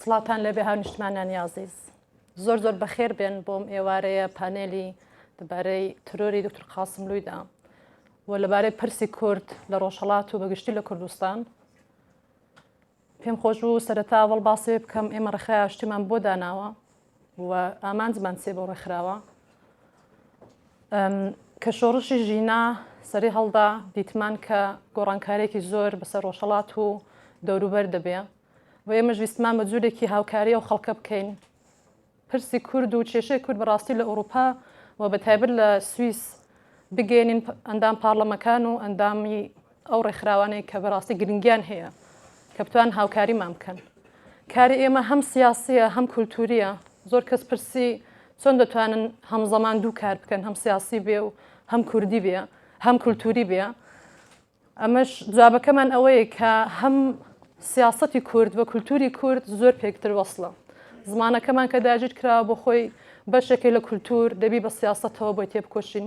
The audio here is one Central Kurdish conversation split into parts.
سڵاوتان لێبێ هاو نیشتمانانی ئازیز زۆر زۆر بەخێر بێن بۆم ئێوارەیە پانێلی دەبارەی ترۆری دکتر قاسم لویدا و لەبارەی پرسی کورد لە ڕۆژهڵات و بەگشتی لە کوردستان پێم خۆش بوو سەرەتاوەڵ باسێ بکەم ئێمە ڕخرایا شتیمان بۆ داناوە و ئامانجمان چیە بەو ڕێکخراوە؟ کە شۆڕشی ژینا سەری هەڵدا دیتمان کە گۆڕانکارێکی زۆر بەسەر ڕۆژهڵات و دەوروبەر دەبێ و ئێمەش ویستمان بە جوورێکی هاوکاری و خەڵکە بکەین پرسی کورد و کێشەی کورد بەڕاستی لە ئەوروپا و بە تایبەت لە سوئیس بگەێنین ئەندام پارلەمەکان و ئەندامی ئەو ڕێکخراوانەی کە بەڕاستی گرنگیان هەیە کە بتوان هاوکاریمان بکەن کاری ئێمە هەم سیاسیە هەم کولتووریە زۆر کەس پرسی چۆن دەتوانن هەم زەمان دوو کار بکەن هەم سیاسی بێ و هەم کوردی بێ هەم کولتووری بێ ئەمەش جوابەکەمان ئەوەیە کە هەم سیاستی کورد و کولتوری کورد زۆر پێکتر وەصلە زمانەکەمان کە داگیر کراوە بۆ خۆی بەشێکی لە کولتور دەبی بە سیاستەوە بۆی تێبکۆشین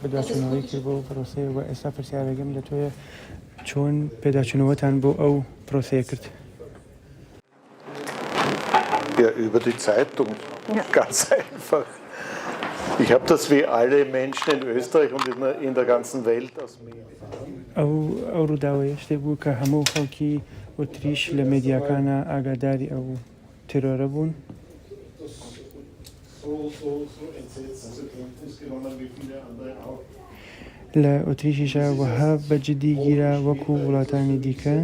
پێداچوونەوەی کرد بۆ پرۆسەیە و ئێستا پرسیارەکەم لە تۆیە چۆن پێداچوونەوەتان بۆ ئەو پرۆسەیە کرد؟ ئەو ڕووداوەیە شتێک بوو کە هەموو خەڵکی ئۆتریش لە مێدیاکانا ئاگاداری ئەو بوو. ترۆرە بوون. لە ئۆتریشیشا وەها بە جدی گیرا وەکو وڵاتانی دیکە.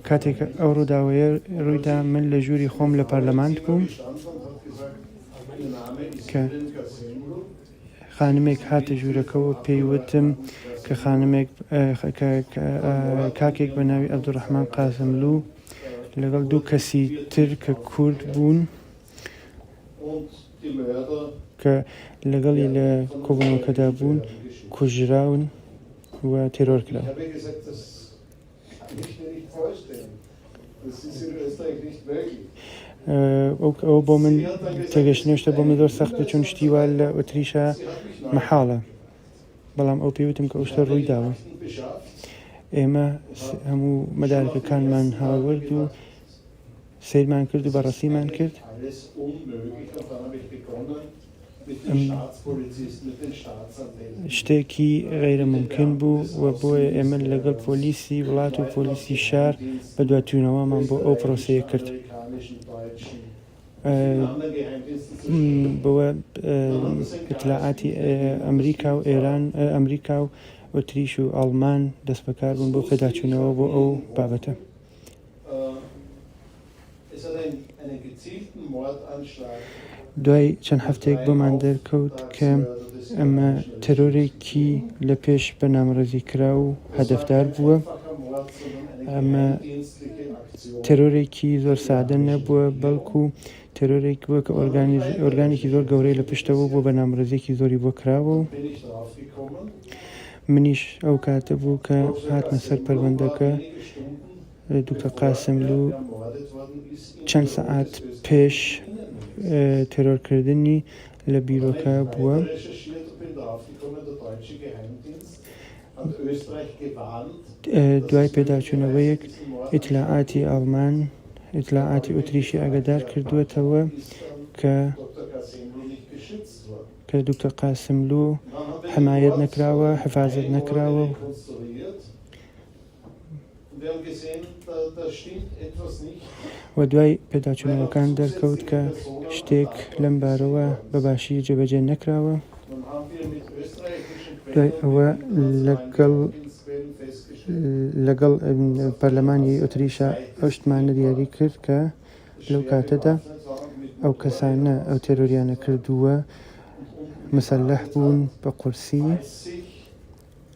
کاتێک ئەو ڕووداوەیە ڕوویدا من لە ژووری خۆم لە پەرلەمانت بووم کە خانمێک هاتە ژوورەکەوە پێی وتم کە خانمێک کاکێک بە ناوی عەبدولڕەحمان قاسملوو لەگەڵ دوو کەسی تر کە کورد بوون کە لەگەڵی لە کۆبوونەوەکەدا بوون کوژراون و تێرۆر کران. ئەو بۆ من تێگەشت نوێشتە بۆ من زۆر سەختە چون شتی وا لە ئۆتریشە مەحاڵە بەڵام ئەو پێوتم کە ئەوشتە ڕووی داوە ئێمە هەموو مەدارەکەکانمان هاوەرد و سیرمان کرد و بەڕەسیمان کرد شتێکی غەیرە مومکین بوو و بۆیە ئێمە لەگەڵ پۆلیسی وڵات و پۆلیسی شار بەدوادچوونەوەمان بۆ ئەو پرۆسەیە کرد بەوە ئیتلاعاتی ئەمریکا و ئێران ئەمریکا و ئۆتریش و ئاڵمان دەست بەکار بوون بۆ پێداچوونەوە بۆ ئەو بابەتە. دوای چەند هەفتەیەک بۆمان دەرکەوت کە ئەمە تەرۆرێکی لە پێش بەنامڕێزی کرا و هەدەفدار بووە ئەمە تەرۆرێکی زۆر سادە نەبووە بەڵکو تێرۆرێک بووە کە ئۆرگانێکی زۆر گەورەی لە پشتەوە بووە، بەرنامەرزیەکی زۆری بۆ کراوە و منیش ئەو کاتە بوو کە هاتمە سەر پەروەندەکە دوکتە قاسملو چەند سەعات پێش تێرۆرکردنی لە بیرۆکە بووە. دوای پێداچوونەوەیەک ئیتلاعاتی ئاڵمان ئیتلاعاتی ئوتریشی ئاگادار کردووەتەوە کە کە دکتۆر قاسملو حمایەت نەکراوە حفازت نەکراوە و و دوای پێداچوونەوەکان دەرکەوت کە شتێک لەم بارەوە بە باشی جێبەجێ نەکراوە دوای ئەوە لەگەڵ لەگەڵ پەرلەمانی ئۆتریشا ئەو شتمانە دیاری کرد کە لەو کاتەدا ئەو کەسانە ئەو تێرۆریانە کردووە مسلح بوون بە قورسی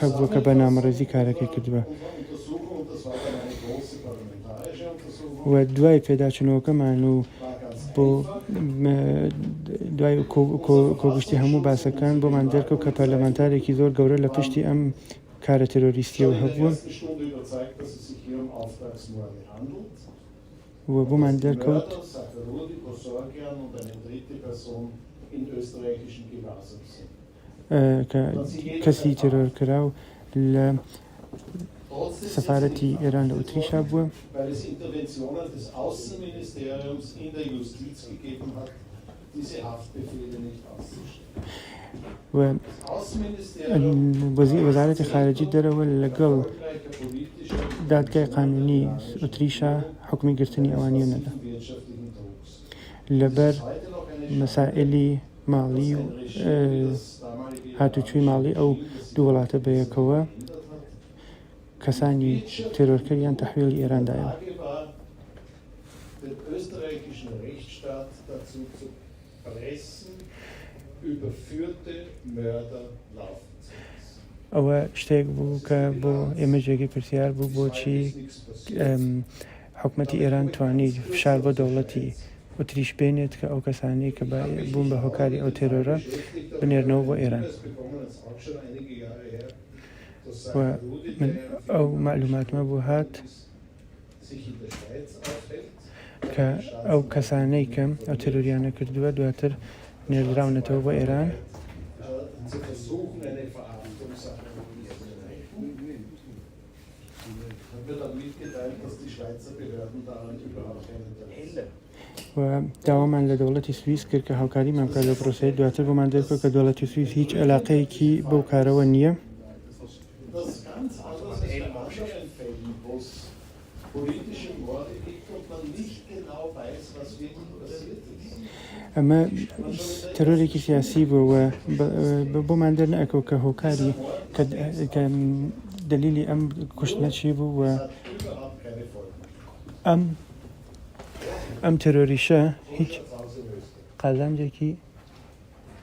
هەبووە کە بەرنامەڕێزی کارەکەی کردبا و دوای پێداچوونەوەکەمان و بۆ دوای کۆگشتی هەموو باسەکان بۆمان دەرکەوت کە پەرلەمانتارێکی زۆر گەورە لە پشتی ئەم کارە ترۆریستیەوە هەبوون و بۆمان دەرکەوت کە کەسی تێرۆرکراو لە سەفارەتی ئێران لە ئوتریشا بووە. وەزارەتی خارجی دەرەوە لەگەڵ دادگای قانونی ئوتریشا حوکمی گرتنی ئەوانیان نەدا. لەبەر مەسائیلی ماڵی و هاتوچوی ماڵی ئەو دوو وڵاتە بەیەکەوە کەسانی تێرۆرکەریان تەحویڵی ئێران دایەوە. ئەوە شتێک بوو کە بۆ ئێمە جێگەی پرسیار بوو بۆچی حکومەتی ئێران توانی فشار بۆ دەوڵەتی ئوتریش بێنێت کە ئەو کەسانەی کە بە بوون بە هۆکاری ئەو تێرۆرە بنێرنەوە بۆ ئێران و من ئەو معلوماتمە بۆ هات کە ئەو کەسانەی کەم ئەو تێرۆریانە کردووە دواتر نێردراونەتەوە بۆ ئێران و داوامان لە دەوڵەتی سویس کرد کە هاوکاریمان بکات لە پرۆسەی دواتر بۆمان دەرکەوت کە دەوڵەتی سویس هیچ علاقەیەکی بەو کارەوە نییە ئەمە تەرۆرێکی سیاسی بوو و بۆمان دەرنەکەوت کە هۆکاری کە دلیلی ئەم کوشتنە چی بوو و ئەم ئەم تەرۆریشە هیچ قازانجێکی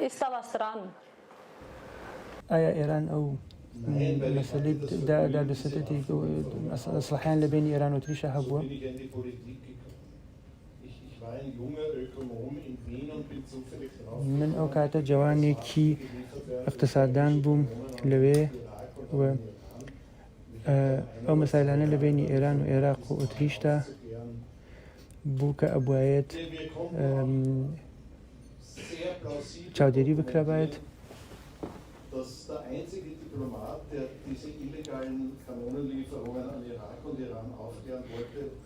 ئیسالا سران. ئایا ئێران ئەو مەسەلەی دا دادو ستەتی کە ئیسلاحیان لە بەینی ئێران و تریشا هەبووە؟ من ئەو کاتە جەوانێکی ئیقتساددان بووم لەوێ و ئەو مەسایلانە لە بەینی ئێران و ئێراق و ئوتریشدا، بووکە ئەبوایەت چاودێری بکرابایەت.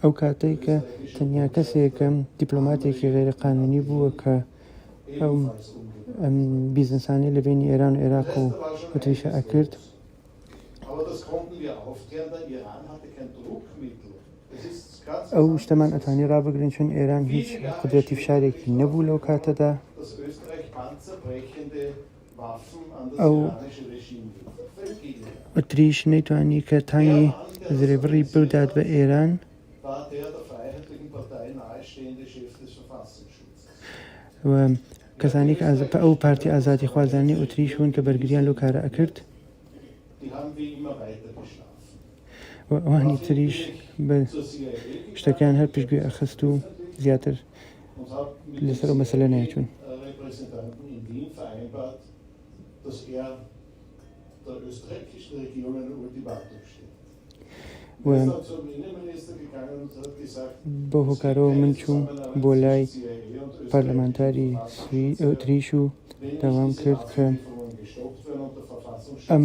ئەو کاتەی کە تەنیا کەسێکم دیپلۆماتێکی غێرە قانونی بووە کە ئەو بیزنسانی لە بینی ئێران و عێراق و وتریشە ئەکرد. ئەو شتەمان ئەتوانی ڕابگرین چون ئێران هیچ قدرەتی فشارێکی نەبوو لەو کاتەدا ئەو ئەتریش نەیتوانی کە تانی زرێبڕی بدات بە ئێران و کەسانی کە ئازپە ئەو پارتی ئازادی خوازانانی ئوتریشون کە بەرگریان لەو کارە ئەکرد و ئەوانی تریش بە شتەکان هەر پشتگوێ ئەخست و زیاتر لەسەر مەسلە نایچوون بۆ هۆکارەوە من چووم بۆ لای پەرلەمانتاری تریش و داوام کرد کە ئەم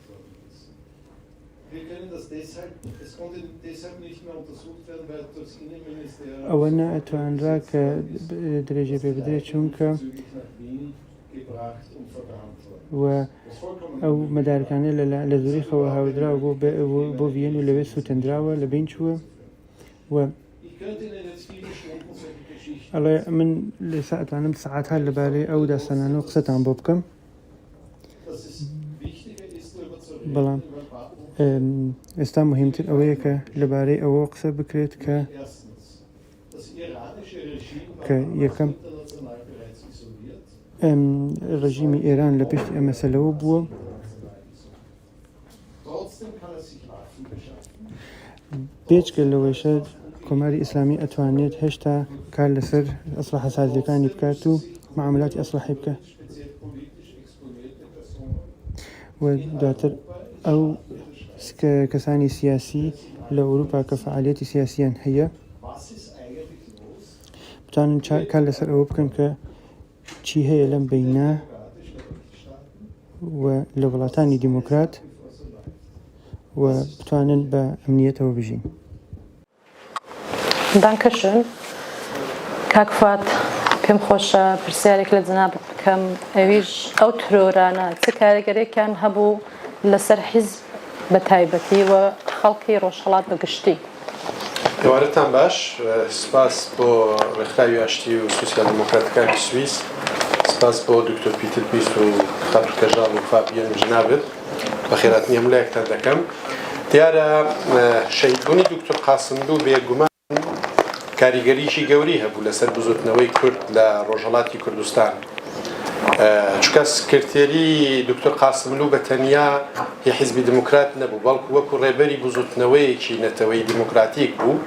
ئەوە نەئەتوانرا کە درێژە پێ بدرێت چونکە و ئەو مەدارکانە لە زوریخەوە هاودراوە بۆ بۆ ڤیەن و لەوێ سووتەندراوە لە بین چووە و ئەڵێ من لە ساعتانم سعات هەر لەبارەی ئەو داستانانەوە قسەتان بۆ بکەم بەڵام ئێستا مهمتر ئەوەیە کە لەبارەی ئەوە قسە بکرێت کە کە یەکەم ڕژیمی ئێران لە پشتی ئەمەسەلەوە بووە بێجگە لەوەیشە کۆماری ئیسلامی ئەتوانێت هێشتا کار لەسەر ئەسلحە سازیەکانی بکات و معاملاتی ئەسلحەی بکە و دواتر ئەو کەسانی سیاسی لە ئەوروپا کە فعالیەتی سیاسیان هەیە بتوانن کار لەسەر ئەوە بکەن کە چی هەیە لەم بینە و لە وڵاتانی دیموکرات و بتوانن بە ئەمنیەتەوە بژین. دانکەشن کاک فات پێم خۆشە پرسیارێک لە جناب بکەم ئەویش ئەو ترۆرانە چ کارگەرێکیان هەبوو لەسەر حیز بە تایبەتی و خەڵکی ڕۆژهەڵات بە گشتی. ئێوارەتان باش، سپاس بۆ ڕێکخراوی ئاشتی و سوسیال دیموکراتەکانی سویس، سپاس بۆ دکتۆر پیتر بیست و خاتو کەژاڵ و فابیەن و جنابت، بەخێراتنی هەموو لایەکتان دەکەم. دیارە شەهیدبونی دکتۆر قاسملو بێ گومان. کاریگەریی گەورەی هەبوو لەسەر بزوتنەوەی کورد لە ڕۆژهەڵاتی کوردستان، چونکە سکرتێری دوکتور قاسملوو بە تەنیا ی حیزبی دموکرات نەبوو، بەڵکو وەکو ڕێبەری بزوتنەوەیەکی نەتەوەی دموکراتیک بوو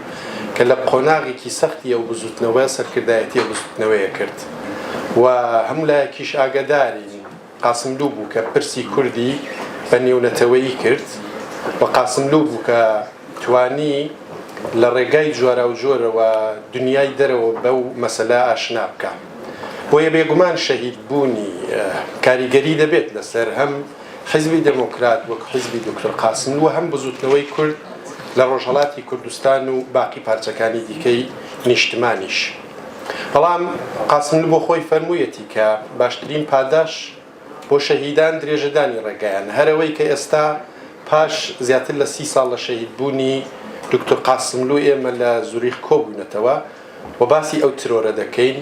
کە لە قۆناغێکی سەختی ئەو بزوتنەوە سەرکردایەتی ئەو بزوتنەوەیە کرد و هەموو لایەکیش ئاگەدارین. قاسملوو بوو کە پرسی کوردی بە نێونەتەوەیی کرد و قاسملوو بوو کە توانی لە ڕێگای جۆراوجۆرەوە دنیای دەرەوە بەو مەسەلە ئاشنا بکا. بۆیە بێگومان شەهید بوونی کاریگەری دەبێت لەسەر هەم حیزبی دێمۆکرات وەک حیزبی دوکتور قاسملوو و هەم بزووتنەوەی کورد لە ڕۆژهەڵاتی کوردستان و باقی پارچەکانی دیکەی نیشتمانیش. بەڵام قاسملوو بۆ خۆی فەرموویەتی کە باشترین پاداش بۆ شەهیدان درێژەدانی ڕێگایانە، هەر ئەوەی کە ئێستا پاش زیاتر لە سی ساڵ لە شەهیدبوونی دوکتور قاسملوو ئێمە لە زوریخ کۆبووینەتەوە و باسی ئەو ترۆرە دەکەین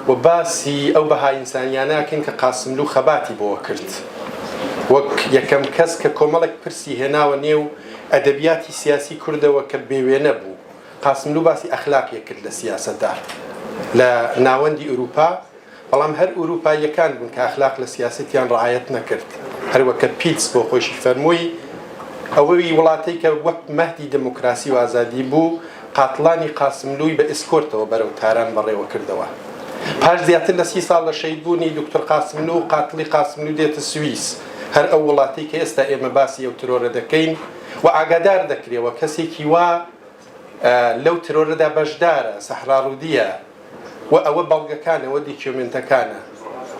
و باسی ئەو بەها ئینسانییانە ئەکەین کە قاسملوو خەباتی بۆ کرد وەک یەکەم کەس کە کۆمەڵێک پرسی هێناوە نێو ئەدەبیاتی سیاسی کوردەوە کە بێوێنە بوو. قاسملوو باسی ئەخلاقیەک کرد لە سیاسەتدا لە ناوەندی ئورووپا، بەڵام هەر ئورووپاییەکان بوون کە ئەخلاق لە سیاسەتیان ڕەعایەت نەکرد، هەروەک کە پیتس بۆ خۆیشی فەرمووی، ئەوەی وڵاتەی کە وەک مەهدی دموکراسی و ئازادی بوو، قاتڵانی قاسملووی بە ئسکۆرتەوە بەرەو تاران بەڕێوە کردەوە. پاش زیاتر لە سی ساڵ لە شەهید بوونی دوکتور قاسملوو، قاتڵی قاسملوو دێتە سویس، هەر ئەو وڵاتەی کە ئێستا ئێمە باسی ئەو ترۆرە دەکەین و ئاگادار دەکرێ و کەسێکی وا، لەو ترۆرەدا بەشدارە، سەحرا ڕودیە، و ئەوە بەڵگەکانە، ئەوە دیکیۆمێنتەکانە.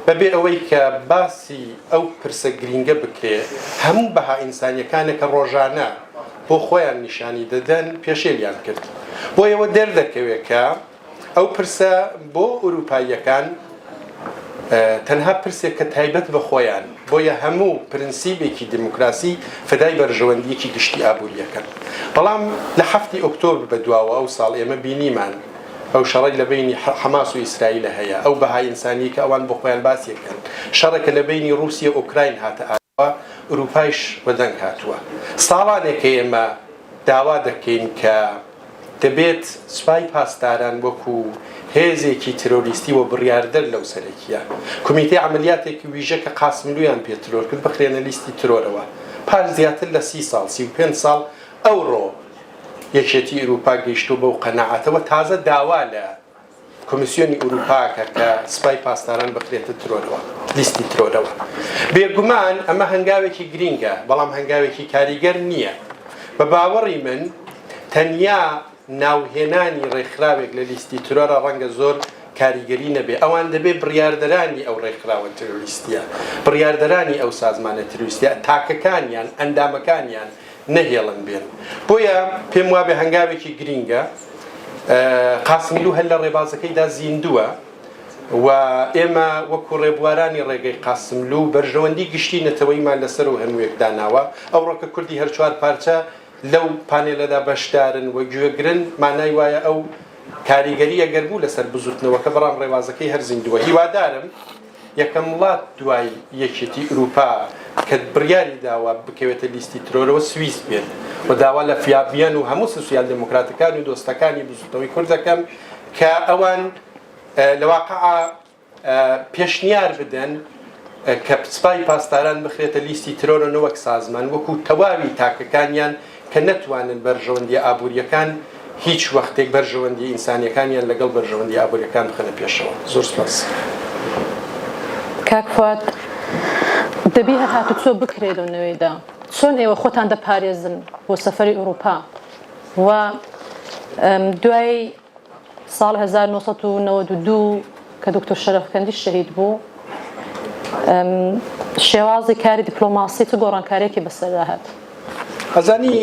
بە بێ ئەوەی کە باسی ئەو پرسە گرینگە بکرێ، هەموو بەها ئینسانیەکانە کە ڕۆژانە بۆ خۆیان نیشانی دەدەن پێشێلیان کرد. بۆیەوە دەردەکەوێ کە. ئەو پرسە بۆ ئورووپاییەکان تەنها پرسێکە تایبەت بە خۆیان، بۆیە هەموو پرنسیبێکی دیموکراسی فدای بەرژەوەندییەکی گشتی ئابوورییەکەن. بەڵام لە حەفتی ئۆکتۆبر بە دواوە ئەو ساڵ ئێمە بینیمان ئەو شەڕەی لە بەینی حەماس و ئیسرائیلە هەیە، ئەو بەها ئینسانییەی کە ئەوان بۆ خۆیان باسی ئەکەن، شەڕێکە لە بەینی ڕووسیە و ئۆکراین هاتە و ئورووپایش بە دەنگ هاتووە. ساڵانێکە ئێمە داوا دەکەین کە دەبێت سوپای پاسداران وەکوو هێزێکی ترۆریستی و بڕیاردەر لەو سەرەکییە کومیتەی عەمەلیاتێکی ویژە کە قاسملوویان پێ ترۆر کرد بخرێنە لیستی ترۆرەوە پاش زیاتر لە سی ساڵ سی و پێنج ساڵ ئەوڕۆ یەکێتی ئورووپا گەیشتووە بەو قەناعەتە و تازە داوا لە کۆمیسیۆنی ئورووپاکە کە سپای پاسداران بخرێتە ترۆرەوە لیستی ترۆرەوە بێگومان ئەمە هەنگاوێکی گرینگە بەڵام هەنگاوێکی کاریگەر نییە بە باوەڕی من تەنیا ناوهێنانی ڕێکخراوێک لە لیستی ترۆرە ڕەنگە زۆر کاریگەری نەبێ ئەوان دەبێ بڕاردەرانی ئەو ڕێکخراوە ترویستە بڕاردەرانی ئەو سازمانە ترویستە تاکەکانیان ئەندامەکانیان نەهێڵن بێن بۆیە پێم وابێ هەنگاوێکی گرینگە قاسمیلو هەر لە ڕێبازەکەیدا زیندووە و ئێمە وەکو ڕێبوارانی ڕێگەی قاسملو بەرژەوەندی گشتی نەتەوەیمان لەسەر و هەمووێک داناوە ئەو ڕۆکە کوردی هەرچوار پارچە لەو پانێلەدا بەشدارن و گوێگرن مانای وایە ئەو کاریگەریە گەربوو لەسەر بزوتنەوەکە بەڵام ڕێوازەکەی هەر زیندووە هیوادارم یەکەم وڵات دوای یەکێتی ئوروپا کە بڕیاری داوە بکەوێتە لیستی ترۆرەوە سویس بێت و داوا لە فیابیان و هەموو سوسیال دموکراتەکان و دۆستەکانی بزوتنەوەی کورد دەکەم کە ئەوان لە واقع پێشنیار بدەن کە سپای پاسداران بخرێتە لیستی ترۆرە نەوەک سازمان وەکو تەواوی تاکەکانیان کە نەتوانن بەرژەوەندییە ئابوورییەکان هیچ وەختێک بەرژەوەندییە ئینسانییەکانیان لەگەڵ بەرژەوەندییە ئابوورییەکان بخەنە پێشەوە. زۆر سوپاس. کاک فواد دەبی هەر هاتوچۆ بکرێ لەو نەوەیدا چۆن ئێوە خۆتان دەپارێزن بۆ سەفەری ئوروپا وە دوای. ساڵی هەزار و نۆ سەد و نەوەد و دوو کە دکتۆر شەرەفکەندی شەهید بوو، شێوازی کاری دیپلۆماسی چ گۆڕانکاریەکی بەسەردا هات؟ ئەزانی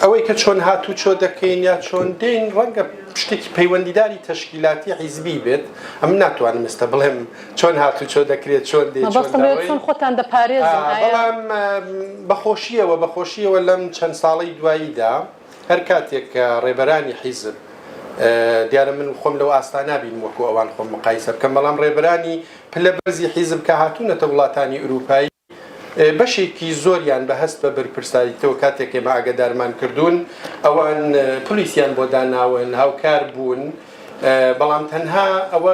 ئەوەی کە چۆن هاتوچۆ دەکەین یا چۆن دێین ڕەنگە شتێکی پەیوەندیداری تەشکیلاتی حیزبی بێت، ئەمن ناتوانم ئێستا بڵێم چۆن هاتوچۆ دەکرێت چۆن دێین چۆن دەڕۆین. مەبەستم لێرە چۆن خۆتان دەپارێزن؟ ئایا. بەڵام بە خۆشیەوە بە خۆشیەوە لەم چەند ساڵەی دواییدا. هەر کاتێک کە ڕێبەرانی حیزب، دیارە من خۆم لەو ئاستا نابینم وەکو ئەوان خۆم مقایسە بکەم، بەڵام ڕێبەرانی پلە بەرزی حیزب کە هاتوونەتە وڵاتانی ئورووپای، بەشێکی زۆریان بە هەست بە بەرپرساریتەوە کاتێک ئێمە ئاگەدارمان کردوون، ئەوان پلیسیان بۆ داناون، هاوکار بوون، بەڵام تەنها ئەوە.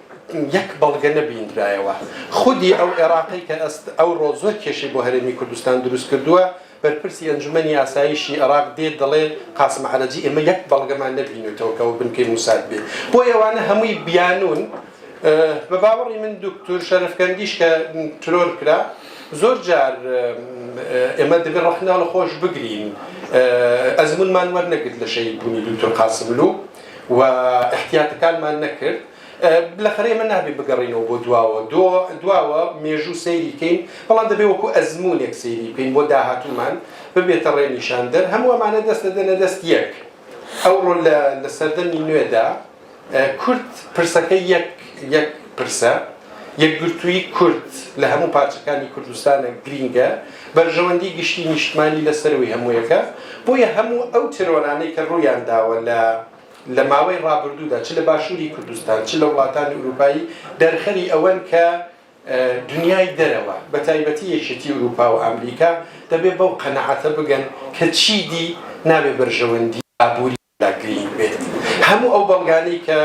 یەک بەڵگە نەبیندرایەوە خودی ئەو عێراقی کە ئەوڕۆ زۆر کێشەی بۆ هەرێمی کوردستان دروست کردووە بەرپرسی ئەنجومەنی ئاسایشی عێراق دێت دەڵێ قاسم عەرەجی ئێمە یەک بەڵگەمان نەبینێتەوە کە ئەو بنکەی موساد بێت بۆ ئێوانە هەمووی بیانون بە باوەڕی من دکتور شەرفکەندیش کە ترۆر کرا زۆر جار ئێمە دەبێ ڕەخناڵە خۆش بگرین ئەزمونمان وەرنەگرت لە شەید بوونی دکتور قاسملو و ئیحتیاتەکانمان نەکرد بلەخەرە ئێمە نابێ بگەڕینەوە بۆ دواوە دواوە مێژوو سەیری کەین بەڵام دەبێ وەکو ئەزمونێک سەیری بکەین بۆ داهاتومان ببێتە ڕێ نیشاندەر هەموو ئەمانە دەست دەدەنە دەست یەک ئەوڕۆ لە سەردەمی نوێدا کورد پرسەکە یەک یەک پرسە یەکگرتوویی کورد لە هەموو پارچەکانی کوردستانە گرینگە، بەرژەوەندی گشتی نیشتمانی لە سەرووی هەموویەکە، بۆیە هەموو ئەو تێرۆرانەی کە ڕوویان داوە لە لە ماوەی ڕابردوودا چ لە باشووری کوردستان چ لە وڵاتانی ئورووپایی دەرخەری ئەوەن کە دنیای دەرەوە بە تایبەتی یەکێتی ئورووپا و ئامریکا دەبێ بەو قەناعەتە بگەن کە چیدی نابێ بەرژەوەندی ئابووری دا گرینگ بێت هەموو ئەو بەڵگانەی کە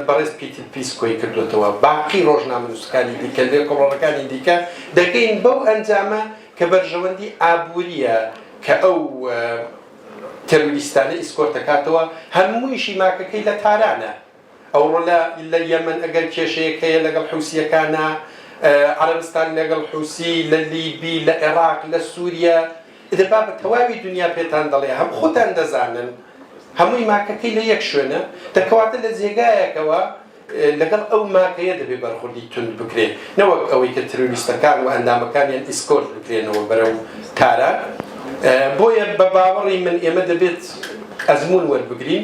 بەڕێز پیتر پیس کۆی کردۆتەوە باقی ڕۆژنامەنووسەکانی دیکە لێکۆڵەڕەکانی دیکە دەگەین بەو ئەنجامە کە بەرژەوەندی ئابووریە کە ئەو تێروریستانە ئیسکۆرتەکاتەوە هەموویشی ماکەکەی لە تارانە. ئەوڕۆ لە لە یەمەن ئەگەر کێشەیەک هەیە لەگەڵ حوسییەکانە، عەرەبستان لەگەڵ حوسی، لە لیبی، لە عێڕاق، لە سووریە، ئیدە با بە تەواوی دنیا پێتان دەڵێ هەم خۆتان دەزانن هەمووی ماکەکەی لە یەک شوێنە، دە کەواتە لە جێگایەکەوە لەگەڵ ئەو ماکەیە دەبێ بەرخوردی توند بکرێ نەوەک ئەوەی کە ترۆریستەکان و ئەندامەکانیان ئیسکۆرت بکرێنەوە بەرەو تاران، بۆیە بە باوەڕی من ئێمە دەبێت ئەزموون وەربگرین.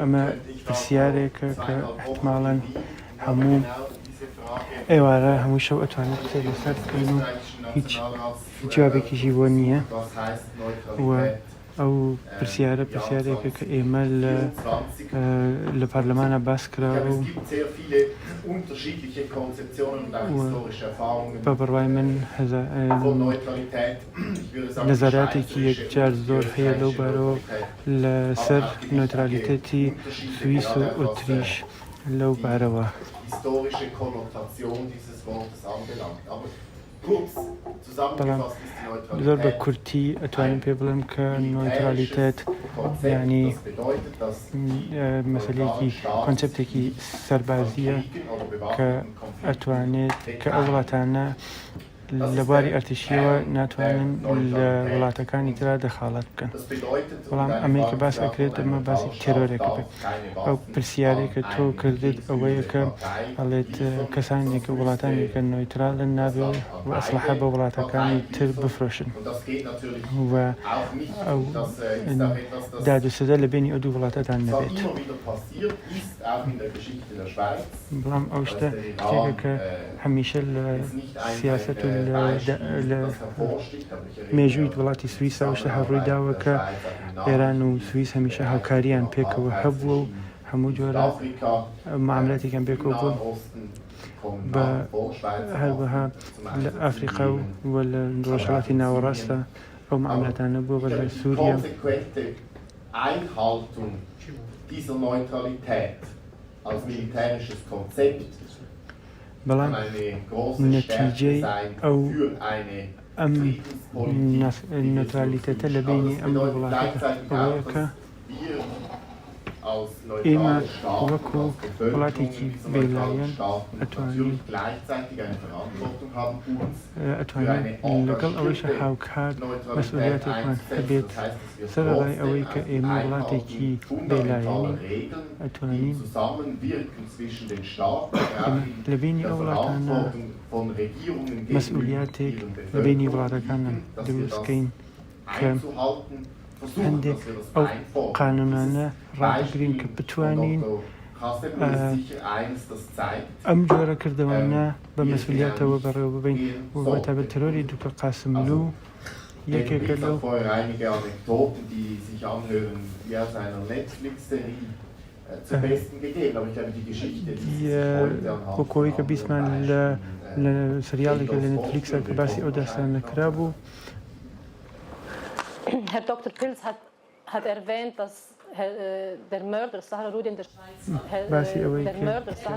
ئەمە پرسیارێکە کە ئیحتماڵەن هەموو ئێوارە هەموو شەو ئەتوانن قسەی لەسەر بکەن و هیچ جوابێکیشی بۆ نییە و ئەو پرسیارە پرسیارێکە کە ئێمە لە پارلەمانا باس کراوە و بە بڕوای من نەزەراتێکی یەکجار زۆر هەیە لەو بارەوە لە سەر نۆترالیتەتی سویس و ئوتریش لەو بارەوە. بەڵام زۆر بە کورتی ئەتوانم پێ بڵێم کە نۆترالیتەت یانی مەسەلەیەکی کۆنسپتێکی سەربازییە کە ئەتوانێت کە ئەو وڵاتانە لە بواری ئەرتشییەوە ناتوانن لە وڵاتەکانی ترا دەخاڵەت بکەن بەڵام ئەمەی کە باس ئەکرێت ئەمە باسی تێرۆرێکە بێت ئەو پرسیارەی کە تۆ کردت ئەوەیە کە ئەڵێت کەسانێک کە وڵاتانی کە نۆیترالن نابێ و ئەسلحە بە وڵاتەکانی تر بفرۆشن و ئەو داد و سزا لە بینی ئەو دوو وڵاتەتان نەبێت بەڵام ئەو شتە شتێکە کە هەمیشە لە سیاسەت و لە لە مێژووی وڵاتی سویس ئەوشتە هەر ڕووی داوە کە ئێران و سویس هەمیشە هاوکاریان پێکەوە هەبووە و هەموو جۆرە معاملاتێکیان پێکەوە بووە بە هەروەها لە ئەفریقا و و لە ڕۆژهەڵاتی ناوەڕاستە ئەو معاملاتانە بووە لە سووریا. بەڵام نەتیجەی ئەو ئەم نەترالیتەتە لە بەینی ئەم دوو وڵاتە ئەوەیە کە ئێمە وەکو وڵاتێکی بێلایەن ئەتوانین ئەتوانین لەگەڵ ئەوەیشا هاوکات مەسئولیاتێکمان هەبێت سەرەڕای ئەوەی کە ئێمە وڵاتێکی بێ لایەنین، ئەتوانین ئێمە لە بەینی ئەو وڵاتانە مەسئولیاتێک لە بەینی وڵاتەکانە دروست کەین کە هەندێک ئەو قانوونانە ڕابگرین کە بتوانین ئەم جۆرە کردەوانە بە مەسئولیاتەوە بەڕێوە ببەین و بە تایبەت تێرۆری دوکە قاسملوو. یەکێکە لەو کۆکۆیی کە بیستمان لە سریاڵێکە لە نێتفلیکسە کە باسی ئەو داستانە کرابوو. باسی ئەوەی کرد کە.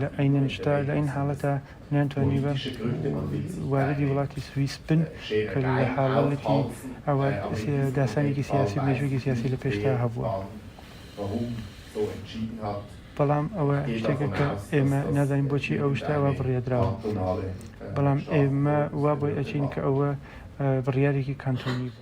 لە ئەیننشتا لە ئین حالەتا نانتوانیبا واردی وڵاتی سویس بن کە لە حالەتی ئەوا داسانێکی سیاسی و مێژووێکی سیاسی لە پێشدا هەبووە. بەڵام ئەوە شتێکە کە ئێمە نازانین بۆچی ئەو شتە ئەوا بڕیادراوە. بەڵام ئێمە وا بۆی ئەچین کە ئەوە بڕیارێکی کانتۆنی بوو.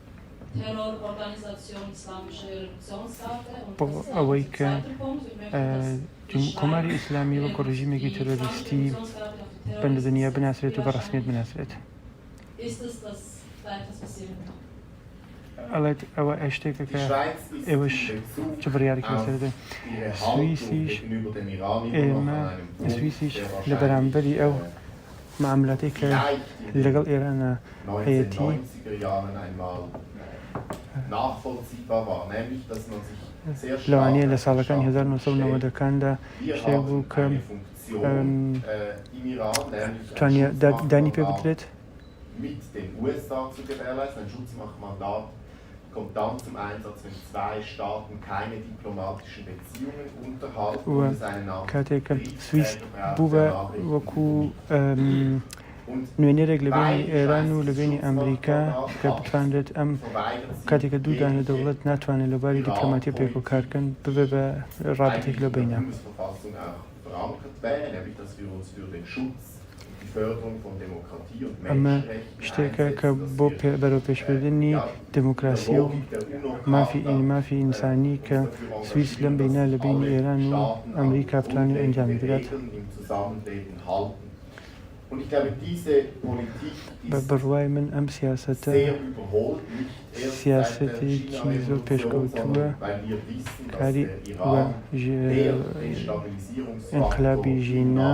بۆ ئەوەی کە کۆماری ئیسلامی وەکو ڕژیمێکی تەرۆریستی بەند دنیا بناسرێت و بە ڕسمیت بناسرێت ئەڵێت ئەوە ئەشتێکە کە ئێوەش چ بڕیارێکی لەسەردە سوئیسیش ئێمە سوئیسیش لە بەرامبەری ئەو مەعاملاتی کە لەگەڵ ئێران هەیەتی لەوانەیە لە ساڵەکانی هەزار و نۆ سەد و نەوەد کاندا شتێک بوو کە توانیە دانی پێ بدرێت. و کاتێک کە سویس بوو بە وەکوو نوێنەرێک لە بینی ئێران و لە بینی ئەمریکا کە بتوانرێت ئەم کاتێک کە دوو دانە دەوڵەت ناتوانێت لە باری دیپلۆماتی پێک و کارکەن ببێ بە ڕابتێک لە بینە. ئەمە شتێکە کە بۆ بەرەوپێشبردنی دێموکراسی و مافی مافی ئینسانی کە سویس لەم بینە لە بینی ئێران و ئەمریکا بتوانێت ئەنجامی بدات. بە بڕوای من ئەم سیاسەتە سیاسەتێکی زۆر پێشکەوتووە کاری ئینقلابی ژینا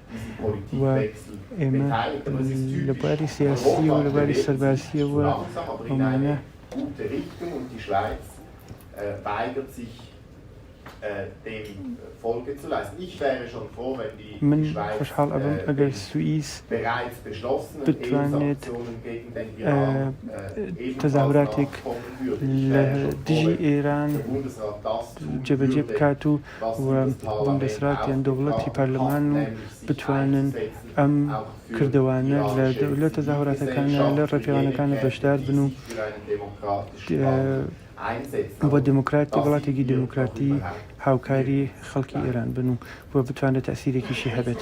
و ئێمە لە بواری سیاسییەوە و لە بواری سەربازییەوە ئەومانە من خۆشحاڵ ئەبم ئەگەر سوئیس بتوانێت تەزاهوراتێک لە دژی ئێران جێبەجێ بکات و و بوندەسراتیان، دەوڵەتی پەرلەمان و بتوانن ئەم کردەوانە لە لە تەزاهوراتەکانە، لە ڕێپێوانەکانە بەشدار بن و بۆ دێموکرات وڵاتێکی دێموکراتی هاوکاری خەڵکی ئێران بن و و بتوانێت تەئسیرێکیشی هەبێت.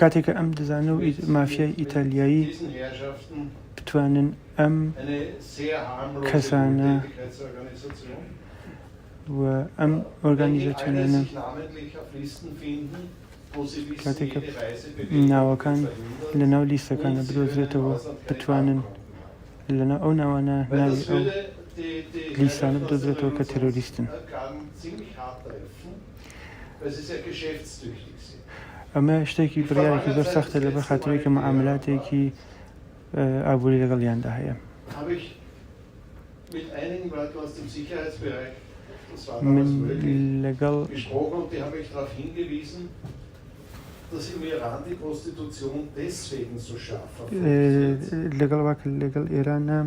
کاتێک کە ئەم دزانە و مافیای ئیتالیایی بتوانن ئەم کەسانە و ئەم ئۆرگانیزاتیۆنانە کاتێک ناوەکان لە ناو لیستەکاندا بدۆزرێتەوە بتوانن لە ناو ئەو ناوانە ناوی ئەو لیستانە بدۆزرێتەوە کە تێرۆریستن. ئەمە شتێکی بڕیارێکی زۆر سەختە لەبەر خاتری کە معاملاتێکی ئابووری لەگەڵیاندا هەیە. من لەگەڵ ئێرانا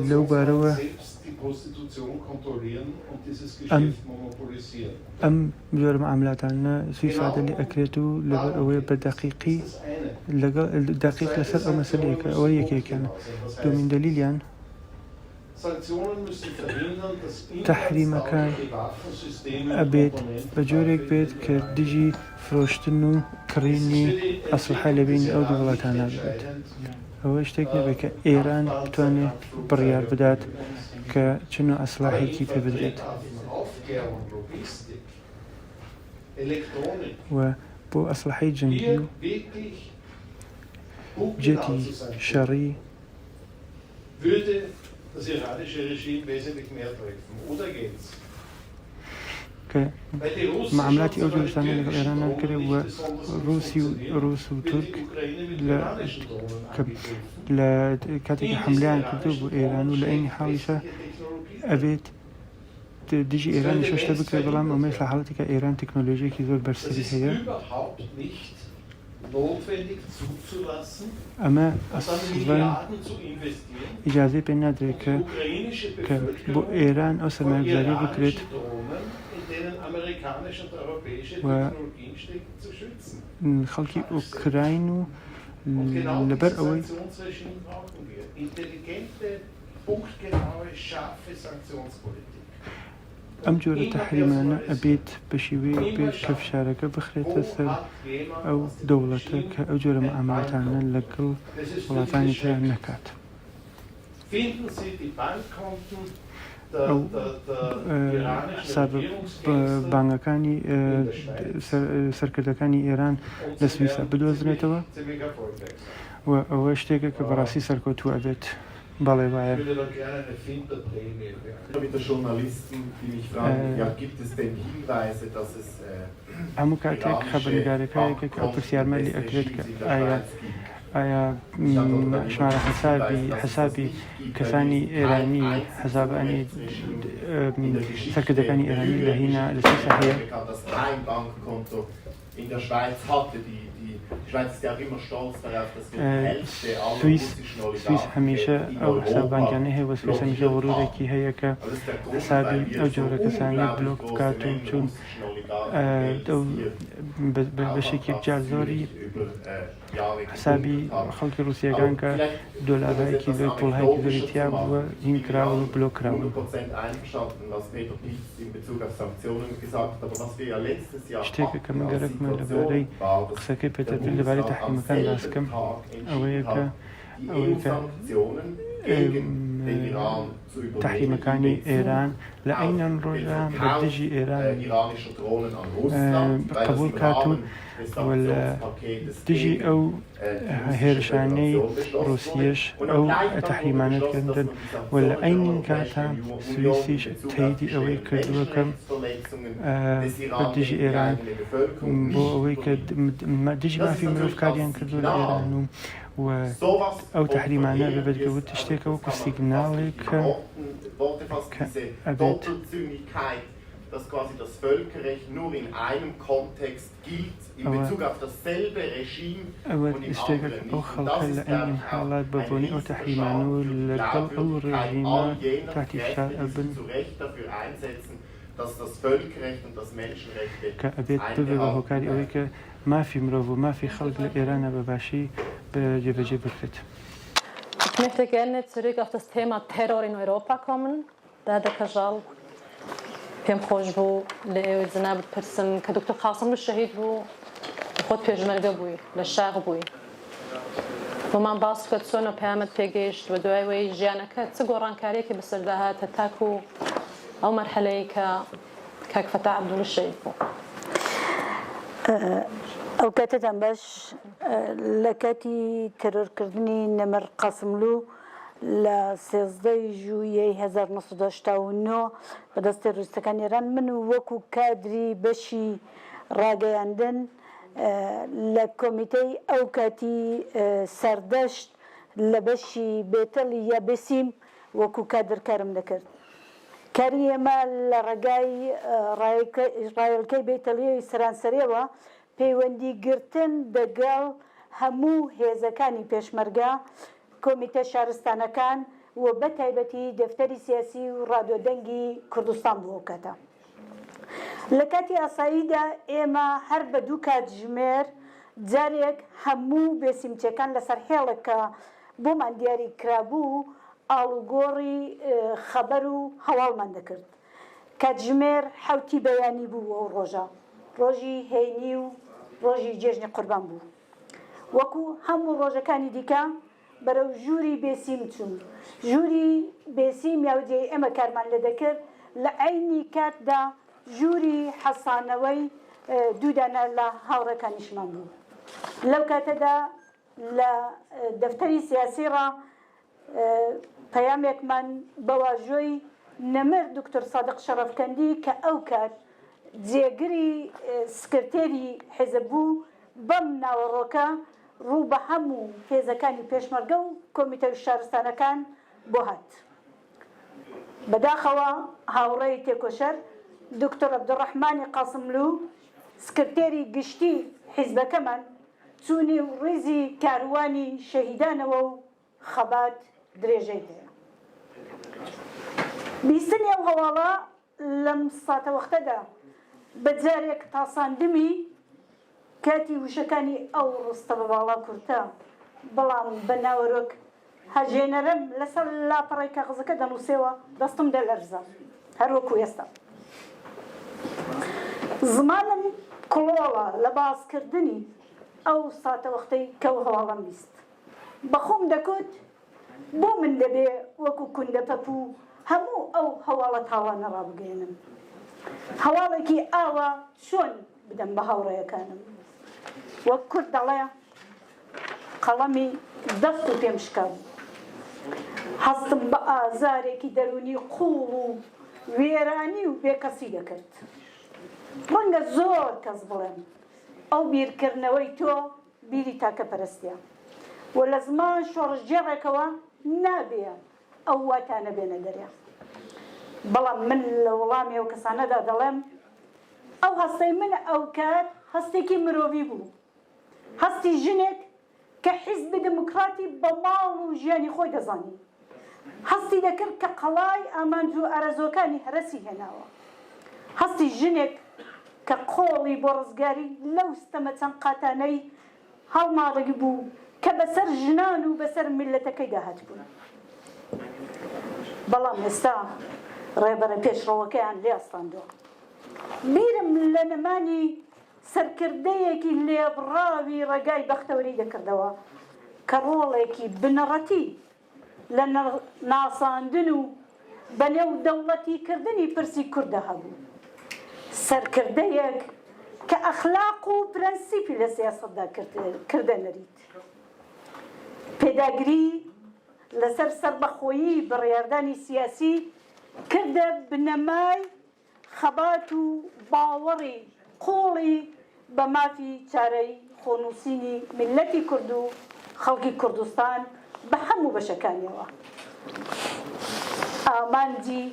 لەو بارەوە ئەم جۆرە مەعاملاتانە سوی سادە لێ ئەکرێت و لەبەر ئەوەیە بە دەقیقی لەگەڵ دەقیق لەسەر ئەو مەسەلەیەکە ئەوە یەکێکیانە دووەمین دەلیلیان تەحریمەکان ئەبێت بە جۆرێک بێت کە دژی فرۆشتن و کڕینی ئەسلحە لە بینی ئەو دوو وڵاتانە بێت. ئەوە شتێک نەبێت کە ئێران بتوانێت بڕیار بدات کە چ نوع سلاحێکی پێ بدرێت و بۆ ئەسلحەی جەنگی و جێتی شەڕی کە معاملاتی ئەو جۆرە شتانەی لەگەڵ ئێران ناکرێ و ڕووسی و ڕووس و تورک لە کە لە کاتێکی حەملەیان کردووە بۆ ئێران و لە عەینی حاڵیشا ئەبێت دژی ئێرانی شەشتە بکرێت بەڵام ئەمەش لە حاڵەتێکە ئێران تەکنۆلۆژیەکی زۆر بەرزتری هەیە. ئەمە ئەسڵەن ئیجازەی پێ نادرێت کە کە بۆ ئێران ئەو سەرمایەگوزارییە بکرێت و خەڵکی ئۆکراین و لەبەر ئەوەی ئەم جۆرە تەحریمانە ئەبێت بە شێوەیەک بێت کە فشارەکە بخرێتە سەر ئەو دەوڵەتە کە ئەو جۆرە مەعامەلەتانە لەگەڵ وڵاتانی ترا نەکات. ئەو حسابە بانگەکانی سەرکردەکانی ئێران لە سویسا بدۆزرێتەوە و ئەوە شتێکە کە بەڕاستی سەرکەوتوو ئەبێت. بەڵێ وایە. هەموو کاتێک خەبەرنگارەکە یەکێک ئەو پرسیارمە لێ ئەکرێت کە ئایا ئایا شمارە حەسابی حەسابی کەسانی ئێرانی حەساب ئەنی سەرکردەکانی ئێرانی لە هینا لە چی سەحەیە؟ سویس سویس هەمیشە ئەو حساب بانکیانەی هەیە بە سویس هەمیشە غرورێکی هەیە کە حسابی ئەو جۆرە کەسانەی بلۆک بکات و چون بەشێکی جار زۆری حسابی خەڵکی ڕوسیەکان کە دۆلارهای کیلۆی قوڵهای کیلۆی تیا بووە هین کراون و بلۆک کراون. شتێکە کە من گەرەکمە لەبارەی قسەکەی پێتەربیل لەبارەی تەحریمەکان باس بکەم ئەوەیە کە تەحریمەکانی ئێران لە ئەینەن ڕۆژدا بە دژی ئێران قبول کات و لە دژی ئەو هێرشانەی ڕوسیەش ئەو تەحریمانەت کردن و لە ئەینین کاتە سویسیش تەیدی ئەوەی کردووەکەم دژی ئێران بۆ ئەوەی کە دژی مافی مرۆڤ کاریان کردو لە ئێران و و ئەو تەحریمانە بەبێت گەوت شتێکە وەکو سیگناڵێک کە ئەبێت ئەوە شتێکە کە ئەو خەڵکە لە ئەم حاڵات بە بۆنەی ئەو تەحریمانە و لەگەڵ ئەو ڕێژیمە تاتی فشار ئەبن کە ئەبێت ببێ بە هۆکاری ئەوەی کە مافی مرۆڤ و مافی خەڵک لە ئێرانە بە باشی جێبەجێ بکرێت. Ich möchte gerne zurück auf das Thema Terror in Europa kommen. دادە کەژاڵ پێم خۆش بوو لە ئێوەی جەنابت بپرسم کە دکتۆر قاسملوو شەهید بوو خۆت پێشمەرگە بووی لە شاخ بووی بۆمان باس بکە چۆن و پەیامەت پێگەیشت و دوای وەی ژیانەکە چ گۆڕانکاریەکی بەسەردا هاتە تاکو ئەو مەرحەلەیە کە کاک فەتاح عەبدوڵی شەهید بوو. ئەو کاتە دەمباش لە کاتی تێرۆرکردنی نەمر قاسملوو لە سێزدە ی ژوویەی هەزار و نۆ سەد و هەشتا و نۆ بە دەست تێرۆریستەکانی ئێران من وەکوو کادری بەشی ڕاگەیاندن لە کۆمیتەی ئەو کاتی سەردەشت لە بەشی بێتەل یا بێسیم وەکوو کادر کارم دەکرد. کاری ئێمە لە ڕێگای ڕایەلکەی بەیتەلیۆی سەرانسەریەوە پەیوەندی گرتن دەگەڵ هەموو هێزەکانی پێشمەرگە، کۆمیتە شارستانەکان و بە تایبەتی دەفتەری سیاسی و ڕادیۆ دەنگی کوردستان بوو ئەوکاتە. لە کاتی ئاساییدا ئێمە هەر بە دوو کاتژمێر جارێک هەموو بێسیمتیەکان لەسەر هێڵێک کە بۆمان دیاری کرابوو، ئاڵوگۆڕی خەبەر و هەواڵمان دەکرد. کاتژمێر حەوتی بەیانی بوو ئەو ڕۆژە. ڕۆژی هەینی و ڕۆژی جێژنی قوربان بوو. وەکو هەموو ڕۆژەکانی دیکە بەرەو ژووری بێسیم چووم. ژووری بێسیم یا جێی ئێمە کارمان لێ دەکرد، لە عەینی کاتدا ژووری حەسانەوەی دوو دانە لە هاوڕێکانیشمان بوو. لەو کاتەدا. لە دەفتەری سیاسی ڕا پەیامێکمان بە واژۆی نەمر دوکتور سادق شەڕەفکەندی کە ئەو کات جێگری سکرتێری حیزب بوو بەم ناوەڕۆکە ڕوو بە هەموو هێزەکانی پێشمەرگە و کۆمیتە شارستانەکان بۆ هات. بەداخەوە هاوڕێی تێکۆشەر دوکتور عەبدولڕەحمانی قاسملوو سکرتێری گشتی حیزبەکەمان، چوونی و ڕیزی کاروانی شەهیدانەوە و خەبات درێژەی هەیە. بیستنی ئەو هەواڵە لەم ساتەوەختەدا بە جارێک تاساندمی کاتی وشەکانی ئەو ڕستە بە باڵا کورتە بەڵام بە ناوەرۆک، هەژێنەرم لەسەر لاپەڕەی کاغزەکە دەنووسێەوە، دەستم دەلەرزا هەر وەکو ئێستا. زمانم کڵۆڵە لە باسکردنی ئەو ساتەوەختەی کە ئەو هەواڵەم بیست. بە خۆم دەکوت بۆ من دەبێ وەکو کوندەپەپوو هەموو ئەو هەواڵە تاڵانە ڕابگەیەنم؟ هەواڵێکی ئاوا چۆن بدەم بە هاوڕێیەکانم؟ وەک کورد دەڵێ. قەڵەمی دەست و پێم شکاند. هەستم بە ئازارێکی دەروونی قووڵ و وێرانی و بێکەسی دەکرد. ڕەنگە زۆر کەس بڵێن، ئەو بیرکردنەوەی تۆ بیری تاکەپەرستییە و لە زمان شۆڕشگێڕێکەوە نابێ ئەو واتانە بێنە دەرێ. بەڵام من لە وەڵامی ئەو کەسانەدا دەڵێم، ئەو هەستەی من ئەوکات هەستێکی مرۆڤی بوو. هەستی ژنێک کە حیزبی دموکراتی بە ماڵ و ژیانی خۆی دەزانی، هەستی دەکرد کە قەڵای ئامانج و ئارەزووەکانی هەرەسی هێناوە. هەستی ژنێک کە قۆڵی بۆ ڕزگاری لەو ستەمە چەند قاتانەی هەڵماڵیبوو کە بەسەر ژنان و بەسەر میللەتەکەیدا هاتبوون. بەڵام ئێستا ڕێبەرە پێشڕەوەکەیان لێ ئەستاندووە. بیرم لە نەمانی سەرکردەیەکی لێبڕاوی ڕێگای بەختەوەری دەکردەوە کە ڕۆڵێکی بنەڕەتی لە ناساندن و بە نێودەوڵەتی کردنی پرسی کورددا هەبوو. سەرکردەیەک کە ئەخلاق و پرەنسیپی لە سیاسەتدا کردە نەریت. پێداگری لەسەر سەربەخۆیی بڕیاردانی سیاسی کردە بنەمای خەبات و باوەڕی قووڵی بە مافی چارەی خۆنووسینی میللەتی کورد و خەڵکی کوردستان بە هەموو بەشەکانیەوە ئامانجی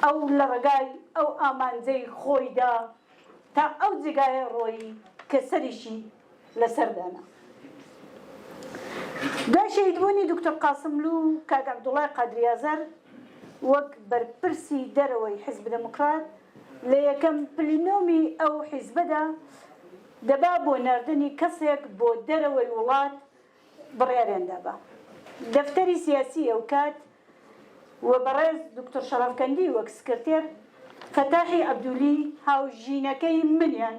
ئەو لە ڕێگای ئەو ئامانجەی خۆیدا تا ئەو جێگایە ڕۆیی کە سەریشی لەسەر دانا. دوای شەهیدبوونی دوکتور قاسملوو و کاک عەبدوڵای قادری ئازەر وەک بەرپرسی دەرەوەی حیزب دێموکرات لە یەکەم پلینۆمی ئەو حیزبەدا دەبا بۆ ناردنی کەسێک بۆ دەرەوەی وڵات بڕیاریان دا بە دەفتەری سیاسی ئەوکات و بەڕێز دوکتور شەڕەفکەندی وەک سکرتێر، فەتاحی عەبدولی هاوژینەکەی منیان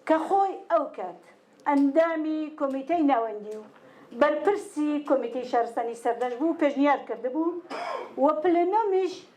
کە خۆی ئەوکات ئەندامی کۆمیتەی ناوەندی و بەرپرسی کۆمیتەی شارستانی سەردەشت بوو پێشنیار کردبوو و پلنۆمیش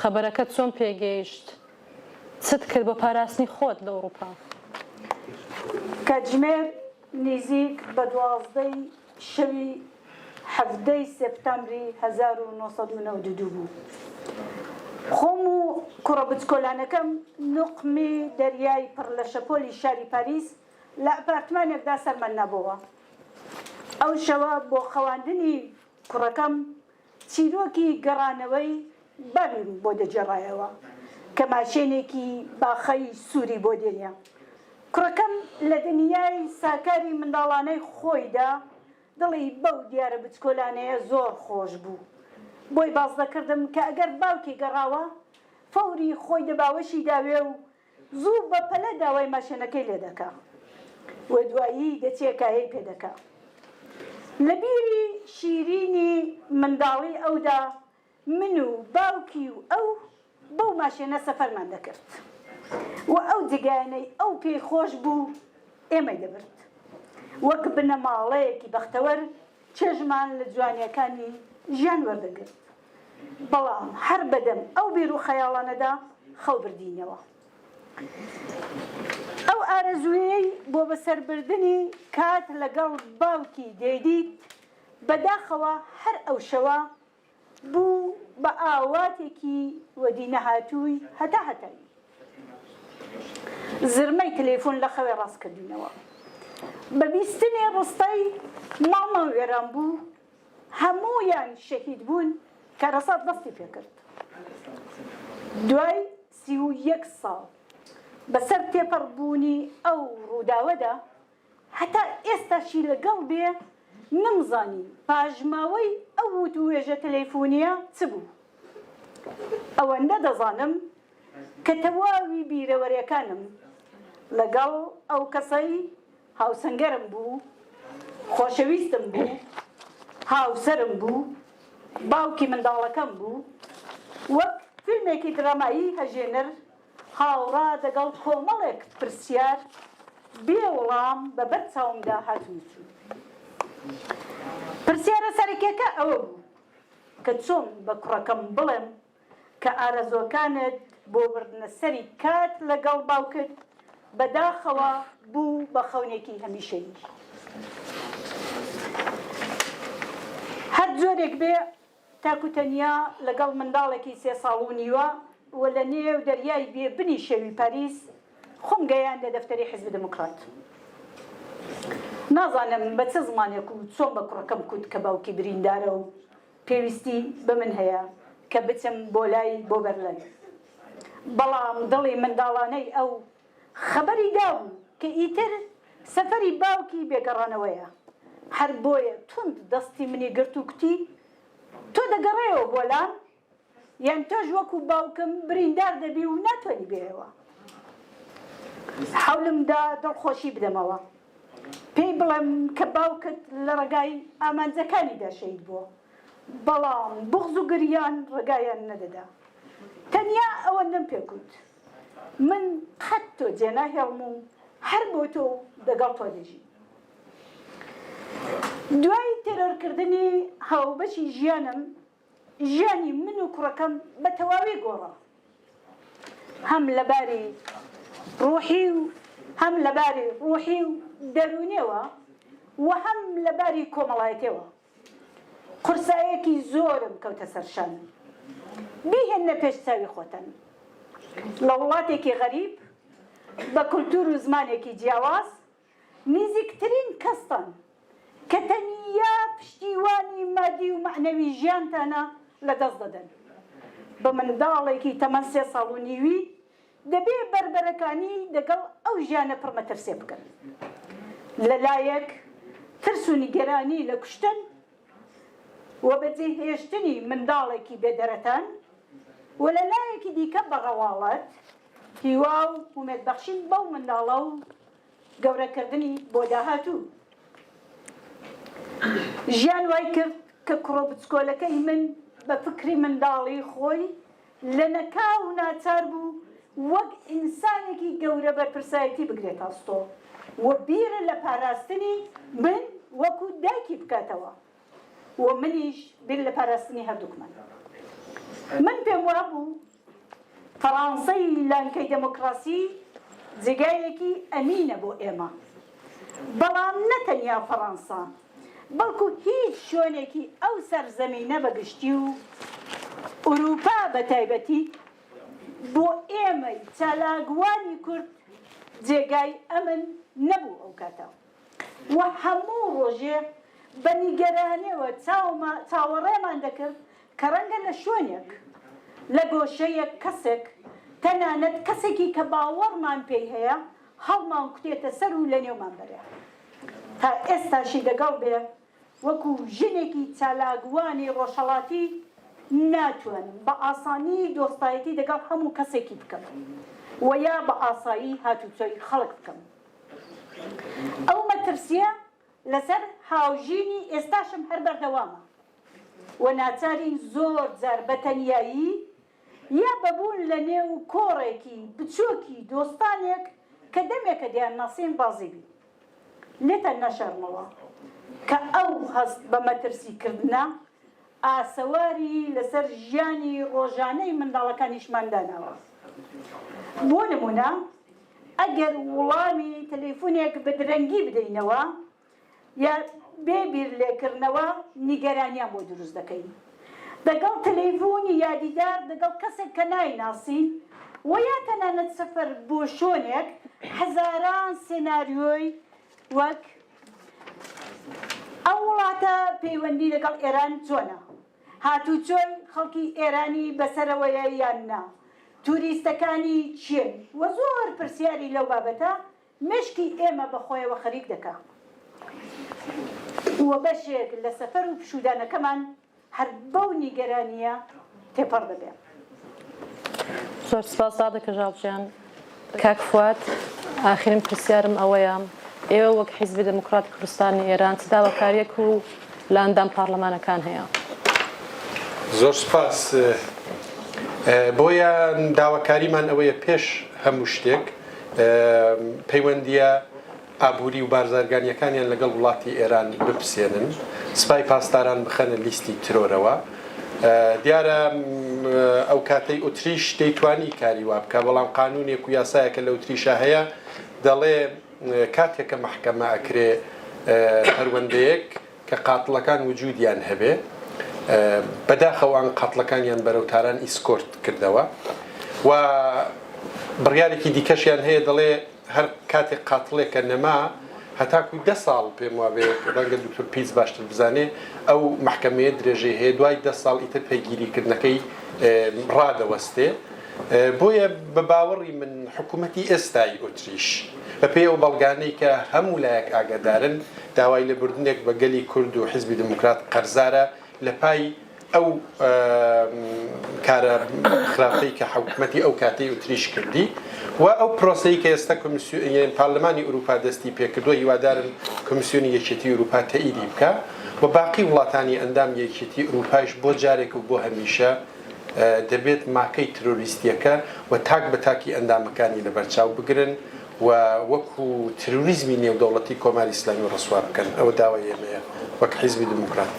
خەبەرەکەت چۆن پێ گەیشت؟ چت کرد بۆ پاراستنی خۆت لە ئوڕووپا؟ کاتژمێر نیزیک بە دوازدەی شەوی حەڤدەی سێپتامبری هەزار و نۆ سەد و نەوەد و دوو بوو. خۆم و کوڕە بچکۆلانەکەم نوقمی دەریای پڕ لە شەپۆلی شاری پاریس لە ئەپارتمانێکدا سەرمان نابۆوە. ئەو شەوە بۆ خەواندنی کوڕەکەم چیرۆکی گەڕانەوەی بابیم بۆ دەگێڕایەوە کە ماشێنێکی باخەی سووری بۆ دێنێ. کوڕەکەم لە دنیای ساکاری منداڵانەی خۆیدا دڵی بەو دیارە بچکۆلانەیە زۆر خۆش بوو. بۆی باس دەکردم کە ئەگەر باوکی گەڕاوە، فەوری خۆی دە باوەشی داوێ و زوو بە پەلە داوای ماشێنەکەی لێ دەکا و دوایی دەچێ کایەی پێ دەکا. لە بیری شیرینی منداڵیی ئەودا من و باوکی و ئەو بەو ماشێنە سەفەرمان دەکرد و ئەو جێگایانەی ئەو پێی خۆش بوو ئێمەی دەبرد. وەک بنەماڵەیەکی بەختەوەر چێژمان لە جوانیەکانی ژیان وەردەگرت، بەڵام هەر بەدەم ئەو بیر و خەیاڵانەدا خەو بردینەوە. ئەو ئارەزوویەی بۆ بەسەربردنی کات لەگەڵ باوکی دەیدیت، بەداخەوە هەر ئەو شەوە بوو بە ئاواتێکی وەدی نەهاتووی هەتا هەتایی. زرمەی تەلەیفۆن لە خەوێ ڕاست کردینەوە. بە بیستنی ڕستەی ماڵمان وێران بوو، هەموویان شەهید بوون، کارەسات دەستی پێ کرد. دوای سی و یەک ساڵ، بە سەر تێپەڕ بوونی ئەو ڕووداوەدا، هەتا ئێستاشی لەگەڵ بێ نەمزانی پاژماوەی ئەو وتووێژە تەلەیفونییە چ بوو. ئەوەندە دەزانم کە تەواوی بیرەوەرێکانم لەگەڵ ئەو کەسەی هاوسەنگەرم بوو، خۆشەویستم بوو، هاوسەرم بوو، باوکی منداڵەکەم بوو، وەک فیلمێکی درامایی هەژێنەر، هاوڕا دەگەڵ کۆمەڵێک پرسیار بێ وڵام بە بەر چاومدا هاتن و چوون. پرسیارە سەرەکیەکە ئەوە بوو کە چۆن بە کوڕەکەم بڵێم کە ئارەزوەکانت بۆ بردنە سەری کات لە گەڵ باوکت بە داخەوە بوو بە خەونێکی هەمیشەیی. هەر جۆرێک بێ. تاک و تەنیا لەگەڵ منداڵێکی سێ ساڵ و نیوە و لە نێو دەریای بێ بنی شەوی پاریس خۆم گەیاندە دەفتەری حیزبی دێموکڕات. نازانم بە چ زمانێک و چۆن بە کوڕەکەم کوت کە باوکی بریندارە و پێویستی بە من هەیە کە بچم بۆ لای بۆ بەرلەن. بەڵام دڵی منداڵانەی ئەو خەبەری دابوو کە ئیتر سەفەری باوکی بێ گەڕانەوەیە، هەر بۆیە توند دەستی منی گرت و کوتی، تۆ دەگەڕێیەوە بۆ لام؟ یان تۆش وەکوو باوکم بریندار دەبی و ناتوانی بێیەوە؟ حەولم دا دڵخۆشی بدەمەوە، پێی بڵێم کە باوکت لە ڕێگای ئامانجەکانیدا شەهید بووە، بەڵام بوغز و گریان ڕێگایان نەدەدا. تەنیا ئەوەندەم پێ کوت. من قەت تۆ جێناهێڵم و هەر بۆ تۆ و دەگەڵ تۆ دەژیم. دوای تێرۆرکردنی هاوبەشی ژیانم، ژیانی من و کوڕەکەم بە تەواوی گۆڕا. هەم لە باری ڕووحی و هەم لە باری ڕووحی و دەروونییەوە و هەم لە باری کۆمەڵایەتییەوە. قورسایەکی زۆرم کەوتە سەر شان. بیهێننە پێش چاوی خۆتان لە وڵاتێکی غەریب بە کولتوور و زمانێکی جیاواز نیزیکترین کەستان کە تەنیا پشتیوانی مادی و مەعنەوی ژیانتانە لە دەست دەدەن بە منداڵێکی تەمەن سێ ساڵ و نیوی دەبێ بەربەرەکانی دەگەڵ ئەو ژیانە پڕ مەترسێ بکەن. لە لایەک ترس و نیگەرانی لە کوشتن و بەجێهێشتنی منداڵێکی بێ دەرەتان و لە لایەکی دیکە بە ڕەواڵەت هیوا و ئومێد بەخشین بەو منداڵە و گەورەکردنی بۆ داهاتوو. ژیان وای کرد کە کوڕە بچکۆلەکەی من بە فکری منداڵی خۆی لەنەکاو ناچار بوو وەک ئینسانێکی گەورە بەرپرسایەتی بگرێتە ئەستۆ و بیر لە پاراستنی من وەکو دایکی بکاتەوە و منیش بیر لە پاراستنی هەردووکمان. من پێم وابوو فەڕانسەی لانکەی دێمۆکڕاسی جێگایەکی ئەمینە بۆ ئێمە، بەڵام نەتەنیا فەڕانسە، بەڵکو هیچ شوێنێکی ئەو سەرزەمینە بە گشتی و ئورووپا بە تایبەتی بۆ ئێمەی چالاکوانی کورد جێگای ئەمن نەبوو ئەو کاتە و هەموو ڕۆژێ بە نیگەرانیەوە چاوەڕێمان دەکرد کە ڕەنگە لە شوێنێک، لە گۆشەیەک کەسێک، تەنانەت کەسێکی کە باوەڕمان پێی هەیە، هەڵمانکوتێتە سەر و لەنێومان بەرێ. تا ئێستاشی لەگەڵ بێ، وەکو ژنێکی چالاکوانی ڕۆژهەڵاتی ناتوانم بە ئاسانی دۆستایەتی دەگەڵ هەموو کەسێکی بکەم و یا بە ئاسایی هاتوچۆی خەڵک بکەم. ئەو مەترسییە لەسەر هاوژینی ئێستاشم هەر بەردەوامە و ناچارین زۆر جار بە تەنیایی یا بە بوون لە نێو کۆڕێکی بچۆکی دۆستانێک کە دەمێکە دەیان ناسین ڕازی بی لێتان ناشارمەوە کە ئەو هەست بە مەترسی کردنە ئاسەواری لە سەر ژیانی ڕۆژانەی منداڵەکانیشمان داناوە بۆ نمونە ئەگەر وڵامی تەلەیفونێک بە درەنگی بدەینەوە یا بێ بیر لێکڕنەوە نیگەرانیان بۆ دروست دەکەین دەگەڵ تەلەیڤونی یا دیدار دەگەڵ کەسێک کە نایناسین وە یا تەنانەت سەفەر بۆ شۆنێک هەزاران سێناریۆی وەک ئەو وڵاتە پەیوەندی لەگەڵ ئێران چۆنە؟ هاتوچۆی خەڵکی ئێرانی بەسەرەوەیە یان نا؟ توریستەکانی کێن؟ وە زۆر پرسیاری لەو بابەتە مێشکی ئێمە بە خۆیەوە خەریک دەکا و بەشێک لە سەفەر و پشوودانەکەمان هەر بەو نیگەرانییە تێپەڕ دەبێ. زۆر سپاس دادە کەژاڵ گیان. کاک فواد، ئاخرین پرسیارم ئەوەیە، ئێوە وەک حیزبی دێموکڕاتی کوردستانی ئێران چ داواکارییەک و لە ئەندام پاڕلەمانەکان هەیە؟ زۆر سپاس. بۆیان داواکاریمان ئەوەیە پێش هەموو شتێک، پەیوەندییە ئابووری و بارزارگانییەکانیان لەگەڵ وڵاتی ئێران بپسێنن، سپای پاسداران بخەنە لیستی ترۆرەوە. دیارە ئەو کاتەی ئوتریش دەیتوانی کاری وا بکا، بەڵام قانوونێک و یاسایەک کە لە ئوتریشا هەیە دەڵێ کاتێک کە مەحکەمە ئەکرێ پەروەندەیەک، کە قاتڵەکان وجودیان هەبێ بەداخەوە ئان قاتڵەکانیان بەرەو تاران ئیسکۆرت کردەوە و بڕیارێکی دیکەشیان هەیە دەڵێ هەر کاتێک قاتڵێکە نەما هەتاکو دە ساڵ پێم وابێ ڕەنگە دکتور پیس باشتر بزانێ ئەو محکەمەیە درێژەی هەیە دوای دە ساڵ ئیتر پێگیریکردنەکەی ڕادەوەستێ بۆیە بە باوەڕی من حکوومەتی ئێستای ئۆتریش بە پێی ئەو بەڵگانەی کە هەموو لایەک ئاگادارن داوای لە بردنێک بە گەلی کورد و حیزبی دێموکرات قەرزارە لە پای ئەو کارە خراپەی کە حکوومەتی ئەو کاتەی ئۆتریش کردی و ئەو پرۆسەی کە ئێستا کۆمیسیۆن پارلمانی ئورووپا دەستی پێکردووە هیوادارن کۆمیسیۆنی یەکێتی ئورووپا تەئیدی بکا و باقی وڵاتانی ئەندامی یەکێتی ئورووپایش بۆ جارێک و بۆ هەمیشە دەبێت ماکەی ترۆریستیەکە و تاک بە تاکی ئەندامەکانی لەبەرچاو بگرن و وەکو ترۆریزمی نێودەوڵەتی کۆماری ئیسلامی ڕسوا بکەن، ئەوە داوای ئێمەیە وەک حیزبی دموکرات.